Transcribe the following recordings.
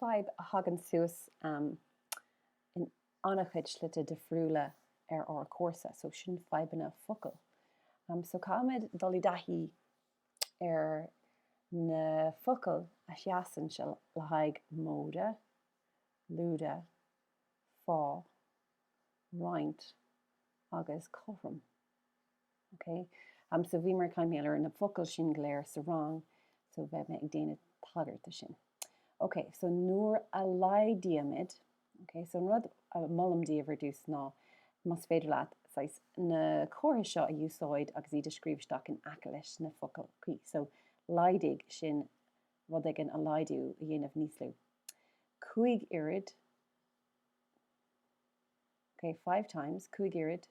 Fadhb a thagann suas in an-chuid slite difriúla ar ár gcúrsa so, sin fadhbanna focal. So caithfimid dul i dtaithí ar na focail a sheasann le haghaidh móide, lúide, fá, roinnt agus cothrom. Ok um so bhíomar ag caint faoi na focail sin go léir sa rang so beidh mé ag déanamh tagairt do sin. Ok so nuair a laghdaímid, ok so an rud a molaim daoibh ar dtús ná más féidir leat saghas na comharthaí seo a úsáid agus iad a scríobh isteach in aice leis na focail cuí. So laghdaigh sin rud éigin a laghdú a dhéanamh níos lú. Cúig oiread, ok five times, cúig oiread,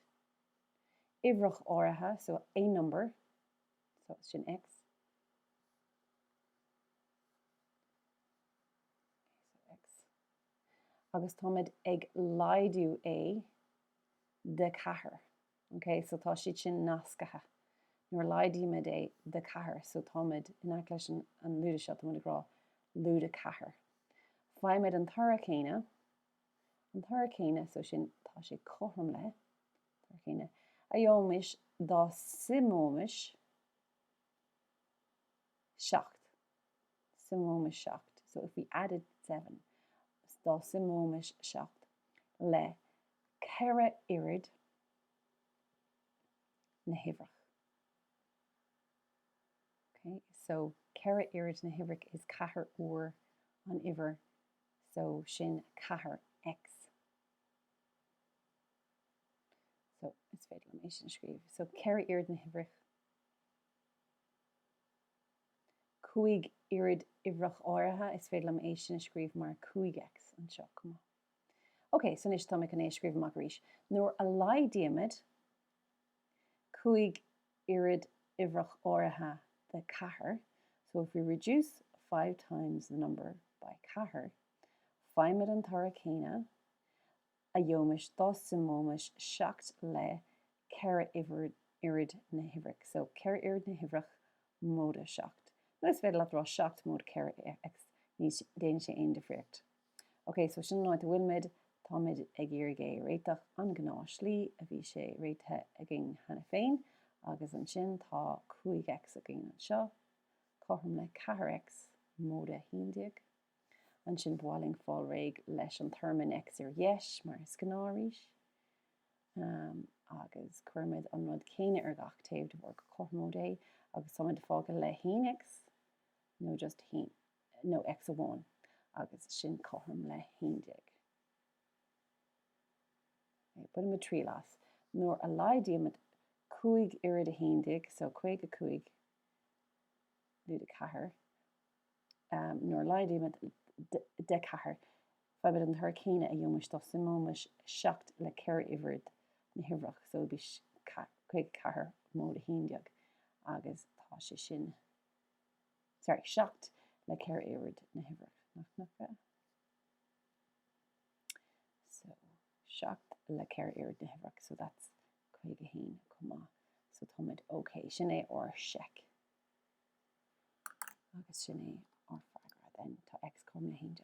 uimhreach áirithe, so a number, so sin X, agus táimid ag laghdú é de cheathair, ok, so tá siad sin nascaithe. Nuair a laghdaímid é de cheathair, so táimid, in aice leis an lúide seo, táimid ag rá lúide ceathair. Faighimid an toradh céanna, An toradh céanna, so sin, tá sé cothrom le, toradh céanna, a gheobhaimis dá suimeoimis seacht, suimeoimis seacht, so if we added seven, dá suimeoimis seacht le ceithre oiread na huimhreach. Okay, so ceithre oiread na huimhreach is ceathair uair an uimhir So sin 4X. So is féidir liom é sin a scríobh. So 4 oiread na huimhreach. 5 oiread uimhreach áirithe, is féidir liom é sin a scríobh mar 5X anseo chomh maith. Ok, so anois tá mé chun é a scríobh amach arís. Nuair a laghdaímid cúig oiread uimhreach áirithe de cheathair so if we reduce five times the number by ceathair faighimid an toradh céanna a gheobhaimis dá suimeoimis seacht le ceithre oiread na huimhreach so ceithre oiread na huimhreach móide seacht nó is féidir leat a rá seacht móide ceithre X, ní dhéanann sé aon difríocht. Ok, so sin an áit ina bhfuilimid. Táimid ag iarraidh é a réiteach an ghnáthshlí, a bhí sé réitithe againn cheana féin, agus ansin tá 5X againn anseo, cothrom le 4X móide 11. Ansin ba mhaith linn fáil réidh leis an téarma in X ar dheis, mar is gnáth arís. Ahem. Agus cuirimid an rud céanna ar gach taobh de bharr gur cothromóid é, agus táimid fágtha le 1X, nó just 1. nó X amháin, agus sin cothrom le haon déag. Bainimid triail as. Nuair a laghdaímid cúig oiread a haon déag, so caoga cúig lúide ceathair, nuair a laghdaímid de ceathair, faighimid an toradh céanna a gheobhaimis dá suimeoimis seacht le ceithre oiread na huimhreach, so bhí caoga ceathair móide haon déag, agus tá sé sin. Sorry, 7 le 4 oiread na huimhreach. So, 7 le 4 oiread na huimhreach, so that's 51 chomh maith. So táimid OK. Sin é ár seic. Agus sin é ár freagra then. Tá X cothrom le haon déag.